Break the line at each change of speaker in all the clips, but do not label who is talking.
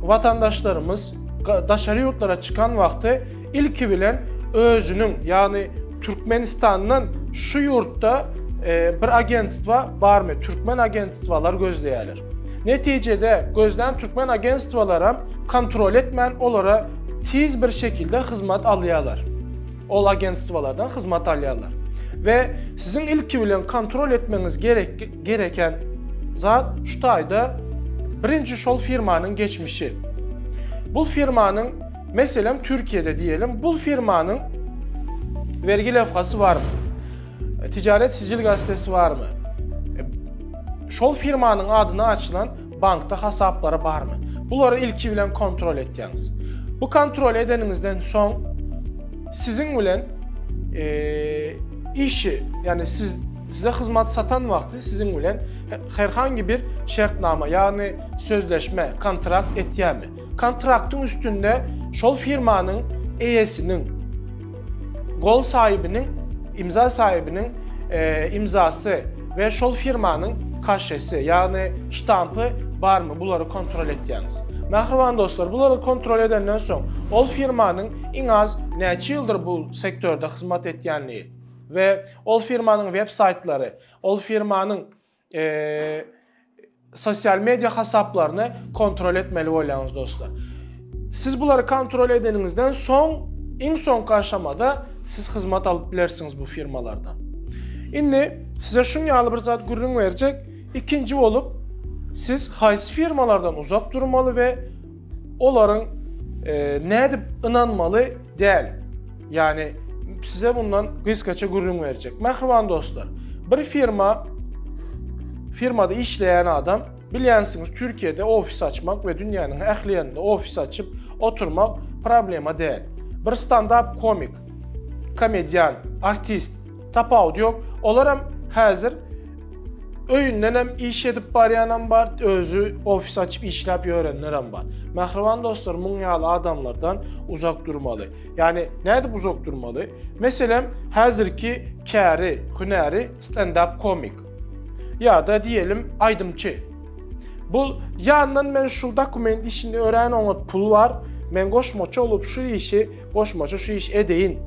Watandaşlarymyz daşary ýurtlara çykan wagty ilki bilen özüniň, ýagny Türkmenistandan şu ýurtda e, bir agentstwa barmy, türkmen agentstwalar gözleýärler. Netijede gözlän türkmen agentstwalaram kontrol etmän olara tiz bir şekilde hyzmat alýarlar. Ol agentstwalardan hyzmat alýarlar. Ve sizin ilki bilen kontrol etmeniz gerek Gereken zat şu taýda birinji şol firmanyň geçmişi. Bul firmanyň meselem Türkiýede diýelim, bul firmanyň vergi lewhasy barmy? Ticaret sicil gazetesi barmy? Şol firmanyň adyna açylan Bankda hasaplary barmy? Bulary ilki bilen kontrol etýäňiz. Bu kontrol edeniňizden soň siziň bilen e, işi, ýagny siz size hyzmat satan wagty siziň bilen herhangi bir şertnama, ýagny sözleşme, kontrakt etýärmi? Kontraktyň üstünde şol firmanyň eýesiniň, gol saýybynyň, imza saýybynyň imzasy we şol firmanyň kaşesi, ýagny ştampy barmy, bulary kontrol etýäňiz. Mähriban dostlar, bulary kontrol edenden soň, ol firmanyň iň az näçe ýyldyr bu sektorda hyzmat etýändigi we ol firmanyň web-saýtlary, ol firmanyň sosial media hasaplaryny kontrol etmeli bolýaňyz dostlar. Siz bulary kontrol edeniňizden soň, iň soňky aşamada siz hyzmat alyp bilersiňiz bu firmalardan. Indi size şun ýaly bir zat gürrüň berjek. Ikinji bolup, siz haýsy firmalardan uzak durmaly we Olaryň nädip ynanmaly däl. Ýagny size bundan gysgaça gürrüň berjek. Mähriban dostlar, bir firma firmada işleýän adam bilýänsiňiz Türkiýede ofis açmak we dünýäniň ähli ýerinde ofis açyp oturmak problema däl. Bir standap komik, komedian, artist Tapawudy ýok. Olaram häzir öýündenem iş edip barýanam bar, özi ofis açyp işläp ýörenlerem bar. Mähriban dostlar, muň ýaly adamlardan uzak durmaly. Ýagny nädip uzak durmaly? Meselem, häzirki käri, hünäri stendap komik. Ýa-da diýelim, aýdymçy. Bul ýandan men şu dokument işini örän oňat pul bar. Men goşmaça bolup şu işi Goşmaça şu işi edeýin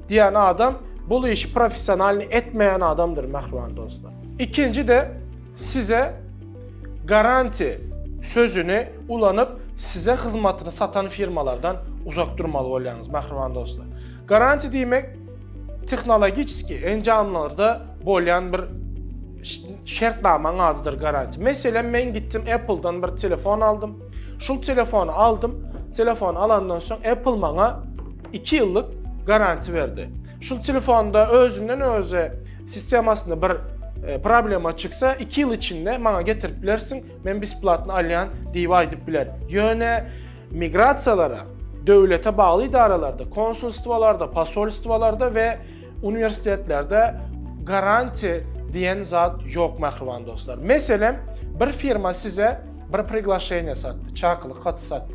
diýen adam bul işi professionalny etmeýän adamdyr mähriban dostlar. Ikinji de size garanti sözüni ulanyp size hyzmatyny satan firmalardan uzak durmaly bolýaňyz mähriban dostlar. Garanti diýmek tehnologiçki enjamlarda bolýan bir şertnamaň adydyr garanti. Meselem men gitdim Apple-dan bir telefon aldym. Şul telefony aldym. Telefony alandan soň Apple maňa 2 ýyllyk garantiýa berdi. Şul telefonda özünden özi sistemasynda bir e, problema çyksa 2 ýyl içinde maňa getirip bilersiň, men besplatny alýan diýip aýdyp biler. Ýöne migrasiýalara döwlete bagly idaralarda, konsulstwalarda, posolstwalarda we Uniwersitetlerde garantiýa diýen zat ýok mähriban dostlar. Meselem, bir firma size bir priglaşeniýe satdy, çakylyk haty satdy.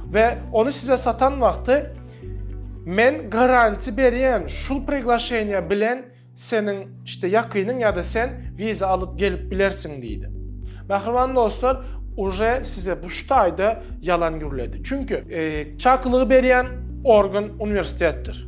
We ony size satan wagty men garantiýa berýän şu priglaşeniýe bilen seniň işte ýakynyň ýa-da sen wiza alyp gelip bilersiň diýdi. Mähriban dostlar, uje size bu ştaýda ýalan gürledi. Çünki e, çakylygy berýän organ uniwersitetdir.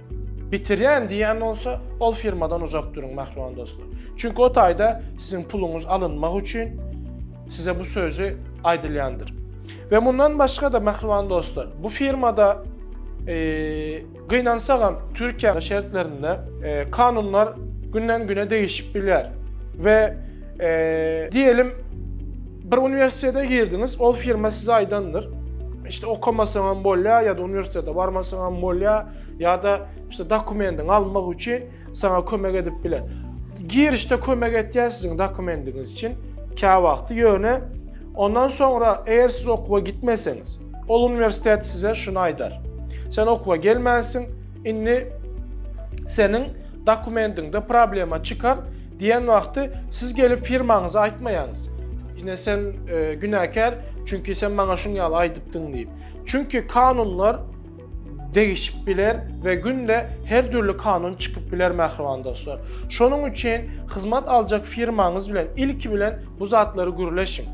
Bitirýän diýýän bolsa, ol firmadan uzak duruň, mähriban dostlar. Çünki o taýda siziň puluňyz alynmak üçin size bu sözi aýdylýandyr. We mundan başga-da, mähriban dostlar, bu firmada gynansagam Türkiýe şertlerinde kanunlar günden güne değişip biler ve diyelim Bir uniwersitete girdiňiz, ol firma size aýdandyr, işte okamasaňam bolýar ýa-da uniwersitete barmasaňam bolýar ýa-da işte dokumendiňi almak üçin saňa kömek edip biler. Girişde kömek etýär siziň dokumendiňiz üçin kä wagty ýöne ondan soňra eger siz okuwa gitmeseňiz, ol uniwersitet size şuny aýdar. Sen okuwa gelmänsiň, indi seniň dokumendiňde problema çykar, Diýen wagty siz gelip firmaňyzy aýtmaýaňyz. Ine sen e, günäkär, çünki sen maňa şuň ýaly aýdypdyň diýip. Çünki kanunlar degişip biler we günde her dürli kanun çykyp biler mähriban dostlar. Şonuň üçin hyzmat aljak firmaňyz bilen ilki bilen bu zatlary gürleşiň.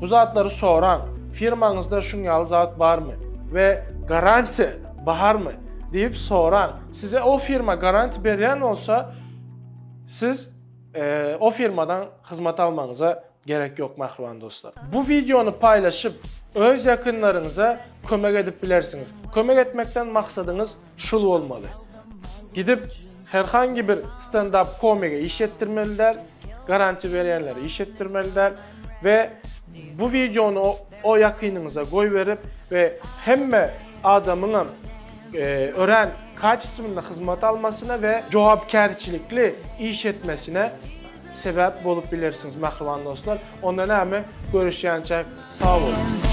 Bu zatlary soraň. Firmaňyzda şuň ýaly zat barmy we garantiýa barmy diýip soraň. Size o firma garantiýa berýän bolsa, Siz o firmadan hyzmat almagyňyza gerek ýok mähriban dostlar. Bu wideony paýlaşyp, öz ýakynlaryňyza kömek edip bilersiňiz. Kömek etmekden maksadyňyz şul bolmaly. Gidip her hangi bir stand-up komige iş etdirmeli däl, garantiýa berýänlere iş etdirmeli däl we bu wideony o ýakynyňyza goýberip we hemme adamyňam örän kaçestwinli hyzmat almasyna we jogapkärçilikli iş etmesine sebäp bolup bilersiňiz mähriban dostlar. Onda näme görüşýänçäk sag boluň.